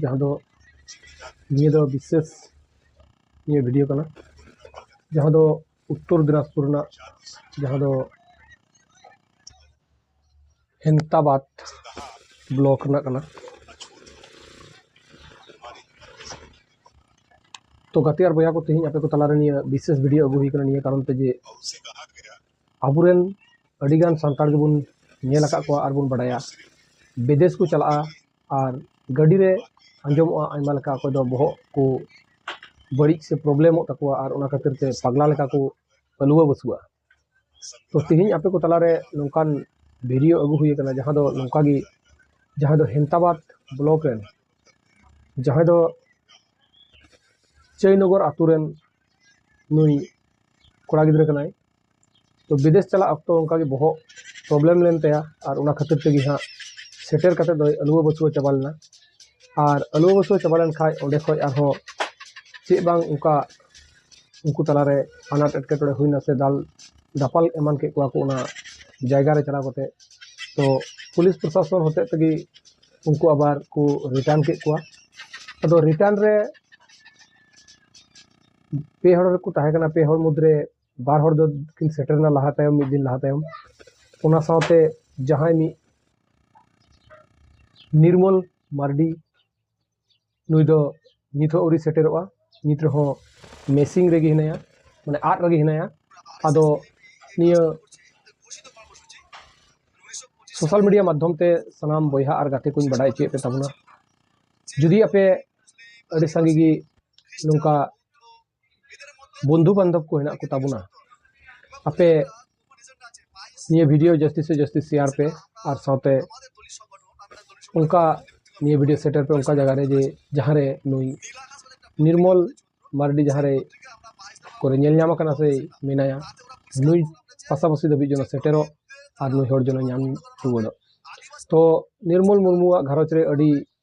ᱡᱟᱦᱟᱸ ᱫᱚ ᱱᱤᱭᱟᱹ ᱫᱚ ᱵᱤᱥᱮᱥ ᱱᱤᱭᱟᱹ ᱵᱷᱤᱰᱭᱳ ᱠᱟᱱᱟ ᱡᱟᱦᱟᱸ ᱫᱚ ᱩᱛᱛᱚᱨ ᱫᱤᱱᱟᱡᱽᱯᱩᱨ ᱨᱮᱱᱟᱜ ᱡᱟᱦᱟᱸ ᱫᱚ ᱦᱮᱱᱛᱟᱵᱟᱫᱽ ᱵᱞᱚᱠ ᱨᱮᱱᱟᱜ ᱠᱟᱱᱟ ᱛᱚ ᱜᱟᱛᱮ ᱟᱨ ᱵᱚᱭᱦᱟ ᱠᱚ ᱛᱮᱦᱮᱧ ᱟᱯᱮ ᱠᱚ ᱛᱟᱞᱟᱨᱮ ᱱᱤᱭᱟᱹ ᱵᱤᱥᱮᱥ ᱵᱷᱤᱰᱭᱳ ᱟᱹᱜᱩ ᱦᱩᱭ ᱠᱟᱱᱟ ᱱᱤᱭᱟᱹ ᱠᱟᱨᱚᱱ ᱛᱮ ᱡᱮ ᱟᱵᱚᱨᱮᱱ ᱟᱹᱰᱤᱜᱟᱱ ᱥᱟᱱᱛᱟᱲ ᱜᱮᱵᱚᱱ ᱧᱮᱞ ᱟᱠᱟᱫ ᱠᱚᱣᱟ ᱟᱨᱵᱚᱱ ᱵᱟᱰᱟᱭᱟ ᱵᱤᱫᱮᱥ ᱠᱚ ᱪᱟᱞᱟᱜᱼᱟ ᱟᱨ ᱜᱟᱹᱰᱤ ᱨᱮ ᱟᱸᱡᱚᱢᱚᱜᱼᱟ ᱟᱭᱢᱟ ᱞᱮᱠᱟ ᱚᱠᱚᱭ ᱫᱚ ᱵᱚᱦᱚᱜ ᱠᱚ ᱵᱟᱹᱲᱤᱡ ᱥᱮ ᱯᱨᱚᱵᱞᱮᱢᱚᱜ ᱛᱟᱠᱚᱣᱟ ᱟᱨ ᱚᱱᱟ ᱠᱷᱟᱹᱛᱤᱨ ᱛᱮ ᱯᱟᱜᱽᱞᱟ ᱞᱮᱠᱟ ᱠᱚ ᱦᱟᱹᱞᱣᱟᱹ ᱵᱟᱹᱥᱣᱟᱹᱜᱼᱟ ᱛᱚ ᱛᱮᱦᱮᱧ ᱟᱯᱮ ᱠᱚ ᱛᱟᱞᱟᱨᱮ ᱱᱚᱝᱠᱟᱱ ᱵᱷᱤᱰᱭᱳ ᱟᱹᱜᱩ ᱦᱩᱭ ᱠᱟᱱᱟ ᱡᱟᱦᱟᱸ ᱫᱚ ᱱᱚᱝᱠᱟ ᱜᱮ ᱡᱟᱦᱟᱸ ᱫᱚ ᱦᱮᱢᱛᱟᱵᱟᱫᱽ ᱵᱞᱚᱠ ᱨᱮᱱ ᱡᱟᱦᱟᱸᱭ ᱫᱚ ᱪᱟᱹᱭᱱᱚᱜᱚᱨ ᱟᱹᱛᱩ ᱨᱮᱱ ᱱᱩᱭ ᱠᱚᱲᱟ ᱜᱤᱫᱽᱨᱟᱹ ᱠᱟᱱᱟᱭ ᱛᱚ ᱵᱤᱫᱮᱥ ᱪᱟᱞᱟᱜ ᱚᱠᱛᱚ ᱚᱱᱠᱟ ᱜᱮ ᱵᱚᱦᱚᱜ ᱯᱨᱚᱵᱞᱮᱢ ᱞᱮᱱ ᱛᱟᱭᱟ ᱟᱨ ᱚᱱᱟ ᱠᱷᱟᱹᱛᱤᱨ ᱛᱮᱜᱮ ᱦᱟᱸᱜ ᱥᱮᱴᱮᱨ ᱠᱟᱛᱮᱫ ᱫᱚᱭ ᱟᱹᱞᱩᱣᱟᱹ ᱵᱟᱹᱥᱣᱟᱹ ᱪᱟᱵᱟ ᱞᱮᱱᱟ ᱟᱨ ᱟᱹᱞᱩᱣᱟᱹ ᱵᱟᱹᱥᱣᱟᱹ ᱪᱟᱵᱟ ᱞᱮᱱ ᱠᱷᱟᱡ ᱚᱸᱰᱮ ᱠᱷᱚᱡ ᱟᱨᱦᱚᱸ ᱪᱮᱫ ᱵᱟᱝ ᱚᱱᱠᱟ ᱩᱱᱠᱩ ᱛᱟᱞᱟ ᱨᱮ ᱟᱱᱟᱴ ᱮᱴᱠᱮᱴᱚᱬᱮ ᱦᱩᱭᱱᱟ ᱥᱮ ᱫᱟᱞ ᱫᱟᱯᱟᱞ ᱮᱢᱟᱱ ᱠᱮᱫ ᱠᱚᱣᱟ ᱠᱚ ᱚᱱᱟ ᱡᱟᱭᱜᱟ ᱨᱮ ᱪᱟᱞᱟᱣ ᱠᱟᱛᱮᱫ ᱛᱚ ᱯᱩᱞᱤᱥ ᱯᱨᱚᱥᱟᱥᱚᱱ ᱦᱚᱛᱮᱡ ᱛᱮᱜᱮ ᱩᱱᱠᱩ ᱟᱵᱟᱨ ᱠᱚ ᱨᱤᱴᱟᱱ ᱠᱮᱫ ᱠᱚᱣᱟ ᱟᱫᱚ ᱨᱤᱴᱟᱱ ᱨᱮ ᱯᱮ ᱦᱚᱲ ᱠᱚ ᱛᱟᱦᱮᱸ ᱠᱟᱱᱟ ᱯᱮ ᱦᱚᱲ ᱢᱩᱫᱽᱨᱮ ᱵᱟᱨ ᱦᱚᱲ ᱫᱚ ᱠᱤᱱ ᱥᱮᱴᱮᱨᱮᱱᱟ ᱞᱟᱦᱟ ᱛᱟᱭᱚᱢ ᱢᱤᱫ ᱫᱤᱱ ᱞᱟᱦᱟ ᱛᱟᱭᱚᱢ ᱚᱱᱟ ᱥᱟᱶᱛᱮ ᱡᱟᱦᱟᱸᱭ ᱢᱤᱫ ᱱᱤᱨᱢᱚᱞ ᱢᱟᱨᱰᱤ ᱱᱩᱭ ᱫᱚ ᱱᱤᱛ ᱦᱚᱸ ᱟᱹᱣᱨᱤ ᱥᱮᱴᱮᱨᱚᱜᱼᱟ ᱱᱤᱛ ᱨᱮᱦᱚᱸ ᱢᱮᱥᱤᱝ ᱨᱮᱜᱮ ᱦᱮᱱᱟᱭᱟ ᱢᱟᱱᱮ ᱟᱫ ᱨᱮᱜᱮ ᱦᱮᱱᱟᱭᱟ ᱟᱫᱚ ᱱᱤᱭᱟᱹ ᱥᱳᱥᱟᱞ ᱢᱤᱰᱤᱭᱟ ᱢᱟᱫᱽᱫᱷᱚᱢ ᱛᱮ ᱥᱟᱱᱟᱢ ᱵᱚᱭᱦᱟ ᱟᱨ ᱜᱟᱛᱮ ᱠᱚᱧ ᱵᱟᱰᱟᱭ ᱦᱚᱪᱚᱭᱮᱫ ᱯᱮ ᱛᱟᱵᱚᱱᱟ ᱡᱩᱫᱤ ᱟᱯᱮ ᱟᱹᱰᱤ ᱥᱟᱸᱜᱮ ᱜᱮ ᱱᱚᱝᱠᱟ ᱵᱚᱱᱫᱷᱩ ᱵᱟᱱᱫᱷᱚᱵ ᱠᱚ ᱦᱮᱱᱟᱜ ᱠᱚ ᱛᱟᱵᱚᱱᱟ ᱟᱯᱮ ᱱᱤᱭᱟᱹ ᱵᱷᱤᱰᱤᱭᱳ ᱡᱟᱹᱥᱛᱤ ᱥᱮ ᱡᱟᱹᱥᱛᱤ ᱥᱮᱭᱟᱨ ᱯᱮ ᱟᱨ ᱥᱟᱶᱛᱮ ᱚᱱᱠᱟ ᱱᱤᱭᱟᱹ ᱵᱷᱤᱰᱤᱭᱳ ᱥᱮᱴᱮᱨ ᱯᱮ ᱚᱱᱠᱟ ᱡᱟᱭᱜᱟ ᱨᱮ ᱡᱮ ᱡᱟᱦᱟᱸ ᱨᱮ ᱱᱩᱭ ᱱᱤᱨᱢᱚᱞ ᱢᱟᱨᱰᱤ ᱡᱟᱦᱟᱸ ᱨᱮ ᱠᱚᱨᱮ ᱧᱮᱞ ᱧᱟᱢ ᱟᱠᱟᱱᱟ ᱥᱮ ᱢᱮᱱᱟᱭᱟ ᱱᱩᱭ ᱯᱟᱥᱟᱯᱟᱥᱤ ᱫᱷᱟᱹᱵᱤᱡ ᱡᱮᱱᱚ ᱥᱮᱴᱮᱨᱚᱜ ᱟᱨ ᱱᱩᱭ ᱦᱚᱲ ᱡᱮᱱᱚ ᱧᱟᱢ ᱨᱩᱣᱟᱹᱲᱚᱜ ᱛᱚ ᱱᱤᱨᱢᱚᱞ ᱢᱩᱨᱢᱩᱣᱟᱜ ᱜᱷᱟᱨᱚᱸᱡᱽ ᱨᱮ ᱟᱹᱰᱤ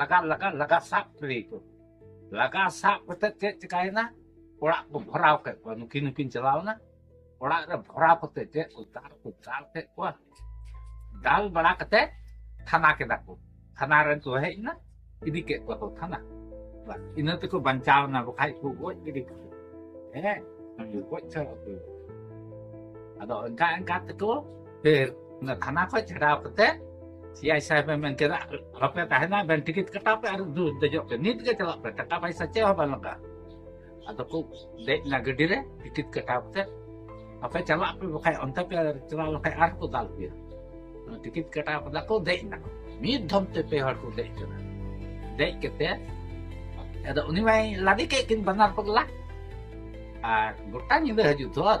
ᱞᱟᱜᱟ ᱞᱟᱜᱟ ᱞᱟᱜᱟ ᱥᱟᱵ ᱠᱮᱫᱮ ᱠᱚ ᱞᱟᱜᱟ ᱥᱟᱵ ᱠᱟᱛᱮ ᱪᱮᱫ ᱪᱤᱠᱟᱭᱮᱱᱟ ᱚᱲᱟᱜ ᱠᱚ ᱵᱷᱚᱨᱟᱣ ᱠᱮᱫ ᱠᱚᱣᱟ ᱱᱩᱠᱤᱱ ᱱᱩᱠᱤᱱ ᱪᱟᱞᱟᱣᱱᱟ ᱚᱲᱟᱜ ᱨᱮ ᱵᱷᱚᱨᱟᱣ ᱠᱟᱛᱮ ᱪᱮᱫ ᱠᱚ ᱫᱟᱞ ᱠᱚ ᱫᱟᱞ ᱠᱮᱫ ᱠᱚᱣᱟ ᱫᱟᱞ ᱵᱟᱲᱟ ᱠᱟᱛᱮ ᱛᱷᱟᱱᱟ ᱠᱮᱫᱟ ᱠᱚ ᱛᱷᱟᱱᱟ ᱨᱮᱱ ᱠᱚ ᱦᱮᱡ ᱮᱱᱟ ᱤᱫᱤ ᱠᱮᱫ ᱠᱚᱣᱟ ᱠᱚ ᱛᱷᱟᱱᱟ ᱤᱱᱟᱹ ᱛᱮᱠᱚ ᱵᱟᱧᱪᱟᱣ ᱮᱱᱟ ᱵᱟᱠᱷᱟᱡ ᱠᱚ ᱜᱚᱡ ᱜᱤᱰᱤ ᱠᱚ ᱦᱮᱸ ᱜᱚᱡ ᱪᱟᱵᱟ ᱠᱚ ᱟᱫᱚ ᱚᱱᱠᱟ ᱚᱱᱠᱟ ᱛᱮᱠᱚ ᱯᱷᱤᱨ ᱚᱱᱟ ᱛᱷᱟᱱᱟ ᱠᱷᱚᱱ ᱪᱷᱟᱰᱟᱣ ᱠᱟᱛᱮ ᱥᱤ ᱟᱭ ᱥᱟᱦᱮᱵ ᱮ ᱢᱮᱱ ᱠᱮᱫᱟ ᱟᱞᱚᱯᱮ ᱛᱟᱦᱮᱱᱟ ᱵᱮᱱ ᱴᱤᱠᱤᱴ ᱠᱟᱴᱟᱣ ᱯᱮ ᱟᱨ ᱫᱩ ᱫᱮᱡᱚᱜ ᱯᱮ ᱱᱤᱛ ᱜᱮ ᱪᱟᱞᱟᱜ ᱯᱮ ᱴᱟᱠᱟ ᱯᱟᱭᱥᱟ ᱪᱮᱫ ᱦᱚᱸ ᱵᱟᱝ ᱞᱟᱜᱟᱜᱼᱟ ᱟᱫᱚ ᱠᱚ ᱫᱮᱡ ᱮᱱᱟ ᱜᱟᱹᱰᱤ ᱨᱮ ᱴᱤᱠᱤᱴ ᱠᱟᱴᱟᱣ ᱠᱟᱛᱮ ᱟᱯᱮ ᱪᱟᱞᱟᱜ ᱯᱮ ᱵᱟᱠᱷᱟᱡ ᱚᱱᱛᱮ ᱯᱮ ᱪᱟᱞᱟᱣ ᱞᱮᱠᱷᱟᱡ ᱟᱨ ᱠᱚ ᱫᱟᱞ ᱯᱮᱭᱟ ᱴᱤᱠᱤᱴ ᱠᱟᱴᱟᱣ ᱠᱟᱫᱟ ᱠᱚ ᱫᱮᱡ ᱮᱱᱟ ᱢᱤᱫ ᱫᱷᱚᱢ ᱛᱮ ᱯᱮ ᱦᱚᱲ ᱠᱚ ᱫᱮᱡ ᱠᱟᱱᱟ ᱫᱮᱡ ᱠᱟᱛᱮ ᱟᱫᱚ ᱩᱱᱤ ᱢᱟᱭ ᱞᱟᱫᱮ ᱠᱮᱫ ᱠᱤᱱ ᱵᱟᱱᱟᱨ ᱯᱟᱜᱽᱞᱟ ᱟᱨ ᱜᱚᱴᱟ ᱧᱤᱫᱟᱹ ᱦᱤᱡᱩᱜ ᱫᱚᱨ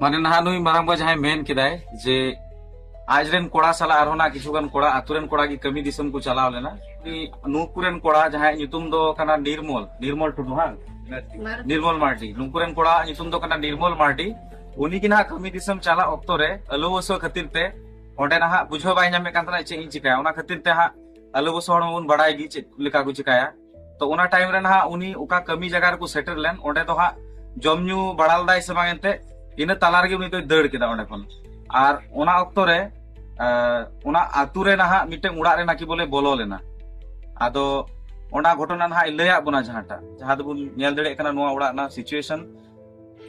ᱢᱟᱱᱮ ᱱᱟᱦᱟᱜ ᱱᱩᱭ ᱢᱟᱨᱟᱝ ᱵᱟ ᱡᱟᱦᱟᱸᱭ ᱢᱮᱱ ᱠᱮᱫᱟᱭ ᱡᱮ ᱟᱡ ᱨᱮᱱ ᱠᱚᱲᱟ ᱥᱟᱞᱟᱜ ᱟᱨᱦᱚᱸ ᱱᱟᱜ ᱠᱤᱪᱷᱩ ᱜᱟᱱ ᱠᱚᱲᱟ ᱟᱛᱳ ᱨᱮᱱ ᱠᱚᱲᱟ ᱜᱮ ᱠᱟᱹᱢᱤ ᱫᱤᱥᱚᱢ ᱠᱚ ᱪᱟᱞᱟᱣ ᱞᱮᱱᱟ ᱱᱩᱠᱩ ᱨᱮᱱ ᱠᱚᱲᱟ ᱡᱟᱦᱟᱸᱭ ᱧᱩᱛᱩᱢ ᱫᱚ ᱠᱟᱱᱟ ᱱᱤᱨᱢᱚᱞ ᱱᱤᱨᱢᱚᱞ ᱴᱩᱰᱩ ᱦᱟᱝ ᱱᱤᱨᱢᱚᱞ ᱢᱟᱨᱰᱤ ᱱᱩᱠᱩ ᱨᱮᱱ ᱠᱚᱲᱟ ᱧᱩᱛᱩᱢ ᱫᱚ ᱠᱟᱱᱟ ᱱᱤᱨᱢᱚᱞ ᱢᱟᱨᱰᱤ ᱩᱱᱤ ᱜᱮ ᱱᱟᱦᱟᱜ ᱠᱟᱹᱢᱤ ᱫᱤᱥᱚᱢ ᱪᱟᱞᱟᱜ ᱚᱠᱛᱚ ᱨᱮ ᱟᱹᱞᱩ ᱵᱚᱥᱚ ᱠᱷᱟᱹᱛᱤᱨ ᱛᱮ ᱚᱸᱰᱮ ᱱᱟᱦᱟᱜ ᱵᱩᱡᱷᱟᱹᱣ ᱵᱟᱭ ᱧᱟᱢᱮᱫ ᱠᱟᱱ ᱛᱟᱦᱮᱱᱟ ᱪᱮᱫ ᱤᱧ ᱪᱤᱠᱟᱹᱭᱟ ᱚᱱᱟ ᱠᱷᱟᱹᱛᱤᱨ ᱛᱮ ᱦᱟᱸᱜ ᱟᱹᱞᱩ ᱵᱚᱥᱚ ᱦᱚᱲ ᱢᱟᱵᱚᱱ ᱵᱟᱲᱟᱭ ᱜᱮ ᱪᱮᱫ ᱞᱮᱠᱟ ᱠᱚ ᱪᱤᱠᱟᱹᱭᱟ ᱛᱚ ᱚᱱᱟ ᱴᱟᱭᱤᱢ ᱨᱮ ᱱᱟᱦᱟᱜ ᱩᱱᱤ ᱚᱠᱟ ᱠᱟᱹᱢᱤ ᱡᱟᱭᱜᱟ ᱨᱮᱠᱚ ᱥᱮᱴᱮᱨ ᱞᱮᱱ ᱚᱸᱰᱮ ᱫᱚ ᱦᱟᱸᱜ ᱡᱚᱢ ᱧᱩ ᱵᱟᱲᱟ ᱞᱮᱫᱟᱭ ᱥᱮ ᱵᱟᱝ ᱮᱱᱛᱮ ᱤᱱᱟᱹ ᱛᱟᱞᱟ ᱨᱮᱜᱮ ᱩᱱᱤ ᱫᱚᱭ ᱫᱟᱹᱲ ᱠᱮᱫᱟ ᱚᱸᱰᱮ ᱠᱷᱚᱱ ᱟᱨ ᱚᱱᱟ ᱚᱠᱛᱚ ᱨᱮ ᱚᱱᱟ ᱟᱛᱳ ᱨᱮ ᱱᱟᱦᱟᱜ ᱢᱤᱫᱴᱮᱱ ᱚᱲᱟᱜ ᱨᱮ ᱱᱟᱠᱤ ᱵᱚᱞᱮ ᱵᱚᱞᱚ ᱞᱮᱱᱟ ᱟᱫᱚ ᱚᱱᱟ ᱜᱷᱚᱴᱚᱱᱟ ᱱᱟᱦᱟᱜ ᱞᱟᱹᱭᱟᱫ ᱵᱚᱱᱟ ᱡᱟᱦᱟᱸᱴᱟᱜ ᱡᱟᱦᱟᱸ ᱫᱚᱵᱚᱱ ᱧᱮᱞ ᱫᱟᱲᱮᱭᱟᱜ ᱠᱟᱱᱟ ᱱᱚᱣᱟ ᱚᱲᱟᱜ ᱨᱮᱱᱟᱜ ᱥᱤᱪᱩᱭᱮᱥᱚᱱ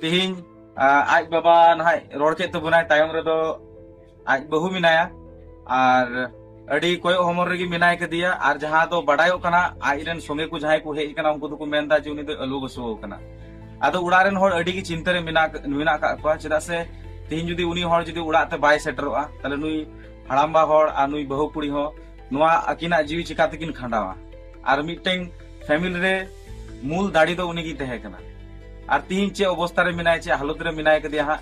ᱛᱮᱦᱮᱧ ᱟᱡ ᱵᱟᱵᱟ ᱱᱟᱦᱟᱜ ᱨᱚᱲ ᱠᱮᱫ ᱛᱟᱵᱚᱱᱟᱭ ᱛᱟᱭᱚᱢ ᱨᱮᱫᱚ ᱟᱡ ᱵᱟᱹᱦᱩ ᱢᱮᱱᱟᱭᱟ ᱟᱨ ᱟᱹᱰᱤ ᱠᱚᱭᱚᱜ ᱦᱚᱢᱚᱨ ᱨᱮᱜᱮ ᱢᱮᱱᱟᱭ ᱠᱟᱫᱮᱭᱟ ᱟᱨ ᱡᱟᱦᱟᱸ ᱫᱚ ᱵᱟᱰᱟᱭᱚᱜ ᱠᱟᱱᱟ ᱟᱡ ᱨᱮᱱ ᱥᱚᱸᱜᱮ ᱠᱚ ᱡᱟᱦᱟᱸᱭ ᱠᱚ ᱦᱮᱡ ᱠᱟᱱᱟ ᱩᱱᱠᱩ ᱫᱚᱠᱚ ᱢᱮᱱᱫᱟ ᱡᱮ ᱩᱱᱤ ᱫᱚ ᱟᱹᱞᱩ ᱵᱟᱹᱥᱩᱣ ᱠᱟᱱᱟ ᱟᱫᱚ ᱚᱲᱟᱜ ᱨᱮᱱ ᱦᱚᱲ ᱟᱹᱰᱤ ᱜᱮ ᱪᱤᱱᱛᱟᱹ ᱨᱮ ᱢᱮᱱᱟᱜ ᱢᱮᱱᱟᱜ ᱠᱟᱜ ᱠᱚᱣᱟ ᱪᱮᱫᱟᱜ ᱥᱮ ᱛᱮᱦᱮᱧ ᱡᱩᱫᱤ ᱩᱱᱤ ᱦᱚᱲ ᱡᱩᱫᱤ ᱚᱲᱟᱜ ᱛᱮ ᱵᱟᱭ ᱥᱮᱴᱮᱨᱚᱜᱼᱟ ᱛᱟᱦᱞᱮ ᱱᱩᱭ ᱦᱟᱲᱟᱢᱵᱟ ᱦᱚᱲ ᱟᱨ ᱱᱩᱭ ᱵᱟᱹᱦᱩ ᱠᱩᱲᱤ ᱦᱚᱸ ᱱᱚᱣᱟ ᱟᱹᱠᱤᱱᱟᱜ ᱡᱤᱣᱤ ᱪᱤᱠᱟ ᱛᱮᱠᱤᱱ ᱠᱷᱟᱸᱰᱟᱣᱟ ᱟᱨ ᱢᱤᱫᱴᱮᱱ ᱯᱷᱮᱢᱤᱞᱤ ᱨᱮ ᱢᱩᱞ ᱫᱟᱲᱮ ᱫᱚ ᱩᱱᱤ ᱜᱮ ᱛᱟᱦᱮᱸ ᱠᱟᱱᱟ ᱟᱨ ᱛᱮᱦᱮᱧ ᱪᱮᱫ ᱚᱵᱚᱥᱛᱟ ᱨᱮ ᱢᱮᱱᱟᱭ ᱪᱮᱫ ᱦᱟᱞᱚᱛ ᱨᱮ ᱢᱮᱱᱟᱭ ᱠᱟᱫᱮᱭᱟ ᱦᱟᱸᱜ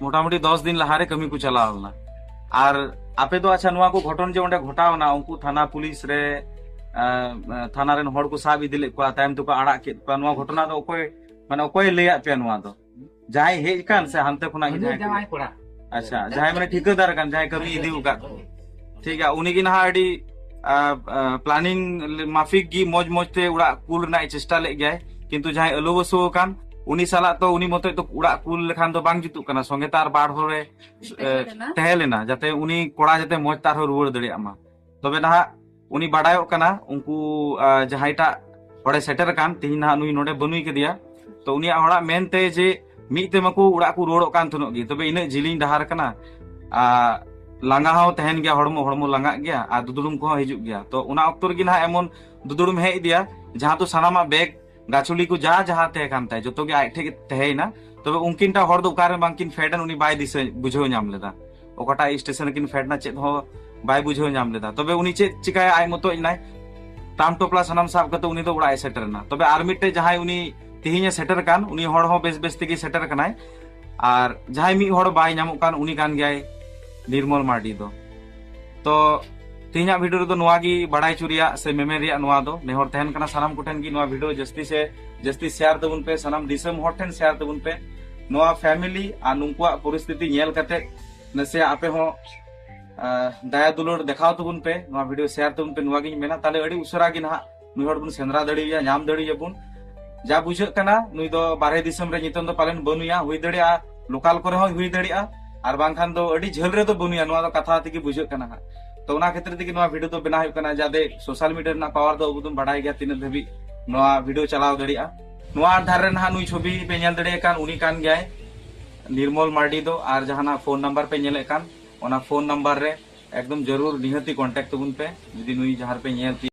ᱢᱚᱴᱟᱢᱩᱴᱤ ᱫᱚᱥ ᱫᱤᱱ ᱞᱟᱦᱟᱨᱮ ᱠᱟᱹᱢᱤ ᱠᱚ ᱪᱟᱞᱟᱣ ᱞᱮᱱᱟ ᱟᱨ ᱟᱯᱮ ᱫᱚ ᱟᱪᱪᱷᱟ ᱱᱚᱣᱟ ᱠᱚ ᱜᱷᱚᱴᱚᱱ ᱡᱮ ᱚᱸᱰᱮ ᱜᱷᱚᱴᱟᱣᱱᱟ ᱩᱱᱠᱩ ᱛᱷᱟᱱᱟ ᱯᱩᱞᱤᱥ ᱨᱮ ᱛᱷᱟᱱᱟ ᱨᱮᱱ ᱦᱚᱲ ᱠᱚ ᱥᱟᱵ ᱤᱫᱤ ᱞᱮᱫ ᱠᱚᱣᱟ ᱛᱟᱭᱚᱢ ᱛᱮᱠᱚ ᱟᱲᱟᱜ ᱠᱮᱫ ᱠᱚᱣᱟ ᱱᱚᱣᱟ ᱜᱷᱚᱴᱚᱱᱟ ᱫᱚ ᱚᱠᱚᱭ ᱢᱟᱱᱮ ᱚᱠᱚᱭ ᱞᱟᱹᱭᱟᱫ ᱯᱮᱭᱟ ᱱᱚᱣᱟ ᱫᱚ ᱡᱟᱦᱟᱸᱭ ᱦᱮᱡ ᱠᱟᱱ ᱥᱮ ᱦᱟᱱᱛᱮ ᱠᱷᱚᱱᱟᱜ ᱡᱟᱦᱟᱸᱭ ᱟᱪᱪᱷᱟ ᱡᱟᱦᱟᱸᱭ ᱢᱟᱱᱮ ᱴᱷᱤᱠᱟᱹᱫᱟᱨ ᱠᱟᱱ ᱡᱟᱦᱟᱸᱭ ᱠᱟᱹᱢᱤ ᱤᱫᱤ ᱟᱠᱟᱫ ᱠᱚ ᱴᱷᱤᱠ ᱜᱮᱭᱟ ᱩᱱᱤ ᱜᱮ ᱱᱟᱦᱟᱜ ᱟᱹᱰᱤ ᱯᱞᱟᱱᱤᱝ ᱢᱟᱯᱷᱤᱠ ᱜᱮ ᱢᱚᱡᱽ ᱢᱚᱡᱽ ᱛᱮ ᱚᱲᱟᱜ ᱠᱩᱞ ᱨᱮᱱᱟᱜ ᱪᱮᱥᱴᱟ ᱞᱮᱫ ᱜᱮᱭᱟᱭ ᱠᱤᱱᱛᱩ ᱡᱟᱦᱟᱸᱭ ᱟᱹᱞᱩ ᱵᱟᱹᱥᱩ ᱟᱠᱟᱱ ᱩᱱᱤ ᱥᱟᱞᱟᱜ ᱛᱚ ᱩᱱᱤ ᱢᱚᱛᱚᱡ ᱫᱚ ᱚᱲᱟᱜ ᱠᱩᱞ ᱞᱮᱠᱷᱟᱱ ᱫᱚ ᱵᱟᱝ ᱡᱩᱛᱩᱜ ᱠᱟᱱᱟ ᱥᱚᱸᱜᱮ ᱛᱟᱨ ᱵᱟᱨ ᱦᱚᱲᱮ ᱛᱟᱦᱮᱸ ᱞᱮᱱᱟ ᱡᱟᱛᱮ ᱩᱱᱤ ᱠᱚᱲᱟ ᱡᱟᱛᱮ ᱢᱚᱡᱽ ᱛᱟᱨᱦᱚᱸ ᱨᱩᱣᱟᱹᱲ ᱫᱟᱲᱮᱭᱟᱜ ᱢᱟ ᱛᱚᱵᱮ ᱱᱟᱦᱟᱜ ᱩᱱᱤ ᱵᱟᱰᱟᱭᱚᱜ ᱠᱟᱱᱟ ᱩᱱᱠᱩ ᱡᱟᱦᱟᱸᱭᱴᱟᱜ ᱦᱚᱲᱮ ᱥᱮᱴᱮᱨ ᱟᱠᱟᱱ ᱛᱮᱦᱮᱧ ᱱᱟᱦᱟᱜ ᱱᱩᱭ ᱱᱚᱰᱮ ᱵᱟᱹᱱᱩᱭ ᱠᱟᱫᱮᱭᱟ ᱛᱚ ᱩᱱᱤᱭᱟᱜ ᱦᱚᱲᱟᱜ ᱢᱮᱱᱛᱮ ᱡᱮ ᱢᱤᱫ ᱛᱮ ᱢᱟᱠᱚ ᱚᱲᱟᱜ ᱠᱚ ᱨᱩᱣᱟᱹᱲᱚᱜ ᱠᱟᱱ ᱛᱟᱦᱮᱱᱚᱜ ᱜᱮ ᱛᱚᱵᱮ ᱤᱱᱟᱹᱜ ᱡᱤᱞᱤᱧ ᱰᱟᱦᱟᱨ ᱠᱟᱱᱟ ᱞᱟᱸᱜᱟ ᱦᱚᱸ ᱛᱟᱦᱮᱱ ᱜᱮᱭᱟ ᱦᱚᱲᱢᱚ ᱦᱚᱲᱢᱚ ᱞᱟᱸᱜᱟᱜ ᱜᱮᱭᱟ ᱟᱨ ᱫᱩᱫᱩᱲᱩᱢ ᱠᱚᱦᱚᱸ ᱦᱤᱡᱩᱜ ᱜᱮᱭᱟ ᱛᱚ ᱚᱱᱟ ᱚᱠᱛᱚ ᱨᱮᱜᱮ ᱱᱟᱦᱟᱜ ᱮᱢᱚᱱ ᱫᱩᱫᱩᱲᱩᱢ ᱦᱮᱡ ᱤᱫᱤᱭᱟ ᱡᱟᱦᱟᱸ ᱫᱚ ᱥᱟᱱᱟᱢᱟᱜ ᱵᱮᱜᱽ ᱜᱟᱪᱷᱩᱞᱤ ᱠᱚ ᱡᱟᱦᱟᱸ ᱡᱟᱦᱟᱸ ᱛᱟᱦᱮᱸ ᱠᱟᱱ ᱛᱟᱭ ᱡᱚᱛᱚ ᱜᱮ ᱟᱡ ᱴᱷᱮᱡ ᱛᱟᱦᱮᱸᱭᱮᱱᱟ ᱛᱚᱵᱮ ᱩᱱᱠᱤᱱ ᱴᱟᱜ ᱦᱚᱲ ᱫᱚ ᱚᱠᱟᱨᱮ ᱵᱟᱝᱠᱤᱱ ᱯᱷᱮᱰ ᱮᱱ ᱩᱱᱤ ᱵᱟᱭ ᱫᱤᱥᱟᱹ ᱵᱩᱡᱷᱟᱹᱣ ᱧᱟᱢ ᱞᱮᱫᱟ ᱚᱠᱟᱴᱟᱜ ᱥᱴᱮᱥᱚᱱ ᱠᱤᱱ ᱯᱷᱮᱰ ᱱᱟ ᱪᱮᱫ ᱦᱚᱸ ᱵᱟᱭ ᱵᱩᱡᱷᱟᱹᱣ ᱧᱟᱢ ᱞᱮᱫᱟ ᱛᱚᱵᱮ ᱩᱱᱤ ᱪᱮᱫ ᱪᱤᱠᱟᱭᱟ ᱟᱡ ᱢᱚᱛᱚᱡ ᱱᱟᱭ ᱴᱟᱢ ᱴᱚᱯᱞᱟ ᱥᱟᱱᱟᱢ ᱥᱟᱵ ᱠᱟᱛᱮ ᱩᱱᱤ ᱫᱚ ᱚᱲᱟᱜ ᱮ ᱥᱮᱴᱮᱨ ᱮᱱᱟ ᱛᱚᱵᱮ ᱟᱨ ᱢᱤᱫᱴᱮᱡ ᱡᱟᱦᱟᱸᱭ ᱩᱱᱤ ᱛᱮᱦᱮᱧ ᱮ ᱥᱮᱴᱮᱨ ᱠᱟᱱ ᱩᱱᱤ ᱦᱚᱲ ᱦᱚᱸ ᱵᱮᱥ ᱵᱮᱥ ᱛᱮᱜᱮ ᱥᱮᱴᱮᱨ ᱠᱟᱱᱟᱭ ᱟᱨ ᱡᱟᱦᱟᱸᱭ ᱢᱤᱫ ᱦᱚᱲ ᱵᱟᱭ ᱧᱟᱢᱚᱜ ᱠᱟᱱ ᱩᱱᱤ ᱠᱟᱱ ᱜᱮᱭᱟᱭ ᱱᱤᱨᱢᱚᱞ ᱢᱟᱨᱰᱤ ᱫᱚ ᱛᱚ ᱛᱮᱦᱮᱧᱟᱜ ᱵᱷᱤᱰᱤᱭᱳ ᱨᱮᱫᱚ ᱱᱚᱣᱟ ᱜᱮ ᱵᱟᱲᱟᱭ ᱪᱚ ᱨᱮᱭᱟᱜ ᱥᱮ ᱢᱮᱢᱮᱱ ᱨᱮᱭᱟᱜ ᱱᱚᱣᱟ ᱫᱚ ᱱᱮᱦᱚᱨ ᱛᱟᱦᱮᱱ ᱠᱟᱱᱟ ᱥᱟᱱᱟᱢ ᱠᱚᱴᱷᱮᱱ ᱜᱮ ᱱᱚᱣᱟ ᱵᱷᱤᱰᱤᱭᱳ ᱡᱟᱹᱥᱛᱤ ᱥᱮ ᱡᱟᱹᱥᱛᱤ ᱥᱮᱭᱟᱨ ᱛᱟᱵᱚᱱ ᱯᱮ ᱥᱟᱱᱟᱢ ᱫᱤᱥᱚᱢ ᱦᱚᱲ ᱴᱷᱮᱱ ᱥᱮᱭᱟᱨ ᱛᱟᱵᱚᱱ ᱯᱮ ᱱᱚᱣᱟ ᱯᱷᱮᱢᱤᱞᱤ ᱟᱨ ᱱᱩᱠᱩᱣᱟᱜ ᱯᱚᱨᱤᱥᱛᱷᱤᱛᱤ ᱧᱮᱞ ᱠᱟᱛᱮ ᱱᱟᱥᱮᱭᱟᱜ ᱟᱯᱮ ᱦᱚᱸ ᱫᱟᱭᱟ ᱫᱩᱞᱟᱹᱲ ᱫᱮᱠᱷᱟᱣ ᱛᱟᱵᱚᱱ ᱯᱮ ᱱᱚᱣᱟ ᱵᱷᱤᱰᱤᱭᱳ ᱥᱮᱭᱟᱨ ᱛᱟᱵᱚᱱ ᱯᱮ ᱱᱚᱣᱟ ᱜᱤᱧ ᱢᱮᱱᱟ ᱛᱟᱦᱞᱮ ᱟᱹᱰᱤ ᱩᱥᱟᱹᱨᱟ ᱜᱮ ᱱᱟᱦᱟᱜ ᱱᱩᱭ ᱦᱚᱲ ᱵᱚᱱ ᱥᱮᱸᱫᱽᱨᱟ ᱫᱟᱲᱮᱭᱟ ᱧᱟᱢ ᱫᱟᱲᱮᱭᱟᱵᱚᱱ ᱡᱟ ᱵᱩᱡᱷᱟᱹᱜ ᱠᱟᱱᱟ ᱱᱩᱭ ᱫᱚ ᱵᱟᱨᱦᱮ ᱫᱤᱥᱚᱢ ᱨᱮ ᱱᱤᱛᱚᱝ ᱫᱚ ᱯᱟᱞᱮᱱ ᱵᱟᱹᱱᱩᱭᱟ ᱦᱩᱭ ᱫᱟᱲᱮᱭᱟᱜᱼᱟ ᱞᱳᱠᱟᱞ ᱠᱚᱨᱮ ᱦᱚᱸ ᱦᱩᱭ ᱫᱟᱲᱮᱭᱟᱜᱼᱟ ᱟᱨ ᱵᱟᱝᱠᱷᱟᱱ ᱫᱚ ᱟᱹᱰᱤ ᱡᱷᱟᱹᱞ ᱨᱮᱫᱚ ᱵᱟᱹᱱᱩᱭᱟ ᱱᱚᱣᱟ ᱫᱚ ᱠᱟᱛᱷᱟ ᱛᱮᱜᱮ ᱵᱩᱡᱷᱟᱹᱜ ᱠᱟᱱᱟ ᱦᱟᱸᱜ ᱛᱚ ᱚᱱᱟ ᱠᱷᱟᱹᱛᱤᱨ ᱛᱮᱜᱮ ᱱᱚᱣᱟ ᱵᱷᱤᱰᱤᱭᱳ ᱫᱚ ᱵᱮᱱᱟᱣ ᱦᱩᱭᱩᱜ ᱠᱟᱱᱟ ᱡᱟᱛᱮ ᱥᱳᱥᱟᱞ ᱢᱤᱰᱤᱭᱟ ᱨᱮᱱᱟᱜ ᱯᱟᱣᱟᱨ ᱫᱚ ᱟᱵᱚ ᱫᱚ ᱵᱟᱰᱟᱭ ᱜᱮᱭᱟ ᱛᱤᱱᱟᱹᱜ ᱫᱷᱟᱹᱵᱤᱡ ᱱᱚᱣᱟ ᱵᱷᱤᱰᱤᱭᱳ ᱪᱟᱞᱟᱣ ᱫᱟᱲᱮᱭᱟᱜᱼᱟ ᱱᱚᱣᱟ ᱟᱫᱷᱟᱨ ᱨᱮ ᱱᱟᱦᱟᱜ ᱱᱩᱭ ᱪᱷᱚᱵᱤ ᱯᱮ ᱧᱮᱞ ᱫᱟᱲᱮᱭᱟᱜ ᱠᱟᱱ ᱩᱱᱤ ᱠᱟᱱ ᱜᱮᱭᱟᱭ ᱱᱤᱨᱢᱚᱞ ᱢᱟᱨᱰᱤ ᱫᱚ ᱟᱨ ᱡᱟᱦᱟᱱᱟᱜ ᱯᱷᱳᱱ ᱱᱟᱢᱵᱟᱨ ᱯᱮ ᱧᱮᱞᱮᱫ ᱠᱟᱱ ᱚᱱᱟ ᱯᱷᱳᱱ ᱱᱟᱢᱵᱟᱨ ᱨᱮ ᱮᱠᱫᱚᱢ ᱡᱟᱹᱨᱩᱲ ᱱᱤᱦᱟᱹᱛᱤ ᱠᱚᱱᱴᱟᱠᱴ ᱛᱟᱵᱚᱱ ᱯᱮ ᱡᱩᱫᱤ ᱱᱩᱭ ᱡᱟᱦᱟᱸ ᱨᱮᱯᱮ ᱧᱮᱞ ᱛᱤᱭᱳᱜ